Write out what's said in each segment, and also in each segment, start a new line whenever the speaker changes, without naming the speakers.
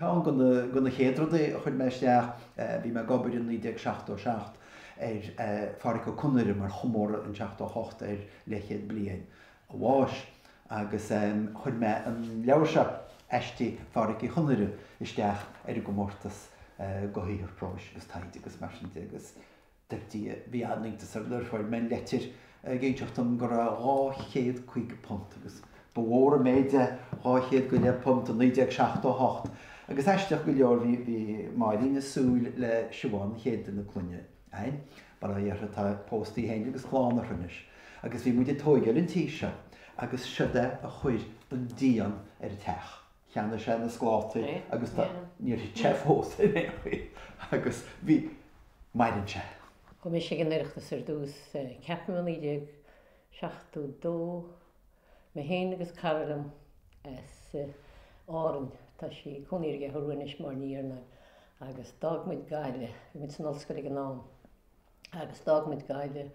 Ceann de na chéad rudaí a chuir mé isteach, bhí mé ag obair i 1977 ar Phádhraic Ó Conaire mar chomóradh in 78 ar leithchéad bliain a bháis agus chuir mé an leabhar seo, Aistí Phádhraic Uí Chonaire, isteach ar an gcomórtas do shaothar próis agus taighde agus mar sin de agus d'eicínt bhí an-iontas orm nuair a fuair mé leitir ag inseacht dom go raibh dhá chéad caoga punt, agus ba mhór an méid é, dhá chéad go leith punt i 1978, agus aisteach go leor bhí Máirín ag súil le Siobhán, an chéad duine clainne, againn, mar a déarfá, tá pósta í fhéin agus clann orthu anois, agus bhí muid ag tóigeáil an tí seo, agus siod é a chuir an díon ar an teach. Cheannaigh sé na sclátaí agus tá, níor thit sé fós ar aon chaoi agus bhí, maireann sé. Chuaigh mise ag an
Oireachtas ar dtús, ceapaim i 1972, mé féin agus cara liom as Árainn, tá sí ag cónaí ar an gCeathrú Rua anois, Máire Ní Iarnáin, agus d'fhág muid Gaillimh, bhí muid san ollscoil ag an am, agus d'fhág muid Gaillimh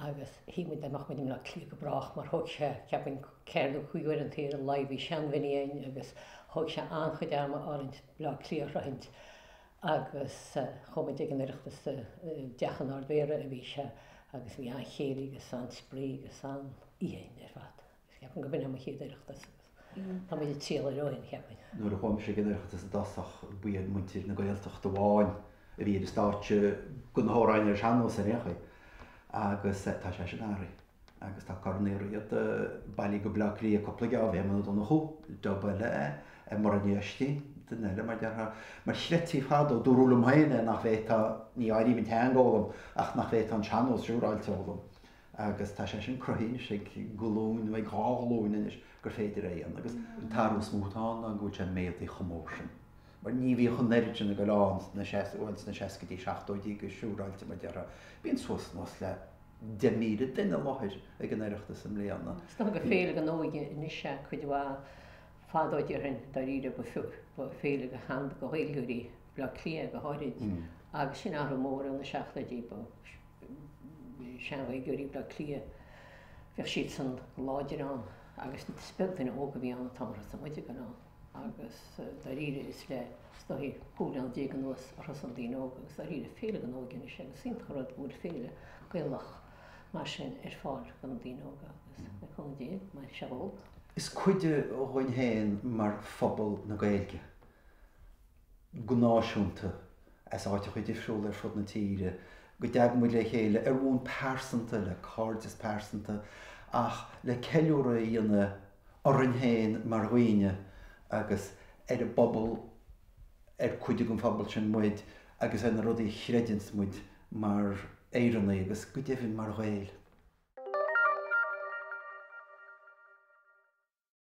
agus shíl muid nach mbeadh muid i mBleá Cliath go brách mar thóg sé, cheapfainn, ceithre nó cúig uair an chloig ar a laghad, bhí sean-Mhini againn agus thóg sé an-chuid ama orainn Bleá Cliath a shroichint agus chuaigh muid ag an Oireachtas, i dteach an Ard-Mhéara a bhí sé agus bhí an-chéilí agus an-spraoi agus an-oíche againn ar fad. Cheapainn go b'in é mo chéad Oireachtas agus tá muid ag triall air ó shin, cheapainn. Nuair a chuaigh mise ag
an Oireachtas i dtosach, ba iad muintir na Gaeltachta amháin a bhí ar an stáitse, go na hamhráin ar sean-nós ar aon chaoi, agus tá sé sin athraithe agus tá Corn Uí Riada bailí go Bleá Cliath cúpla geábh, Éamonn Ó Donnchú, Tobar Mac Oistín, duine eile mar déarfá. Mar shíltí fadó, dúradh liom féin é, nach bhféadfá, ní áirím an teanga a fhoghlaim, ach nach bhféadfá an sean-nós siúráilte a fhoghlaim. agus tá sé sin cruthaithe anois ag glúin nó ag dhá ghlúin anois gur féidir é a dhéanamh agus an t-athrú is mó atá ann ná go bhfuil sé méadaithe chomh mór sin. Mar ní bhíodh an oiread sin ag dul ann sna seas, bhuel sna seascaidí, seachtóidí go siúráilte mar déarfá. Bíonn suas nó anuas le deich míle duine i láthair ag an Oireachtas i mbliana. Is dócha gur féile
don óige anois é cuid mhaith fadó déarfainn dáiríre ba féile do shean- Ghaeilgeoirí Bhaile Átha Cliath go háirid agus sin athrú mór ó na seachtóidí. sean-Ghaeilgeoirí Bhleá Cliath, bhíodh siadsan láidir ann agus is beag duine óg a bhí ann an t-am ar thosaigh muide ag goil ann agus dáiríre is le scaitheamh cúig bhliana déag anuas a thosaigh na daoine óga agus dáiríre féile don óige anois agus is iontach an rud go bhfuil féile Gaelach mar sin ar fáil do na daoine óga agus le cúnamh Dé mairfidh sé beo. Is cuid
dhúinn féin mar phobal na Gaeilge. go náisiúnta, as áiteacha difriúla ar fud na tíre, go dtagann muid le chéile ar bhonn pearsanta, le cairdeas pearsanta, ach le ceiliúradh a dhéanamh orainn féin mar dhaoine agus ar an bpobal ar cuid den phobal sin muid agus ar na rudaí a chreideanns muid mar Éireannaigh agus go deimhin mar Ghaeil.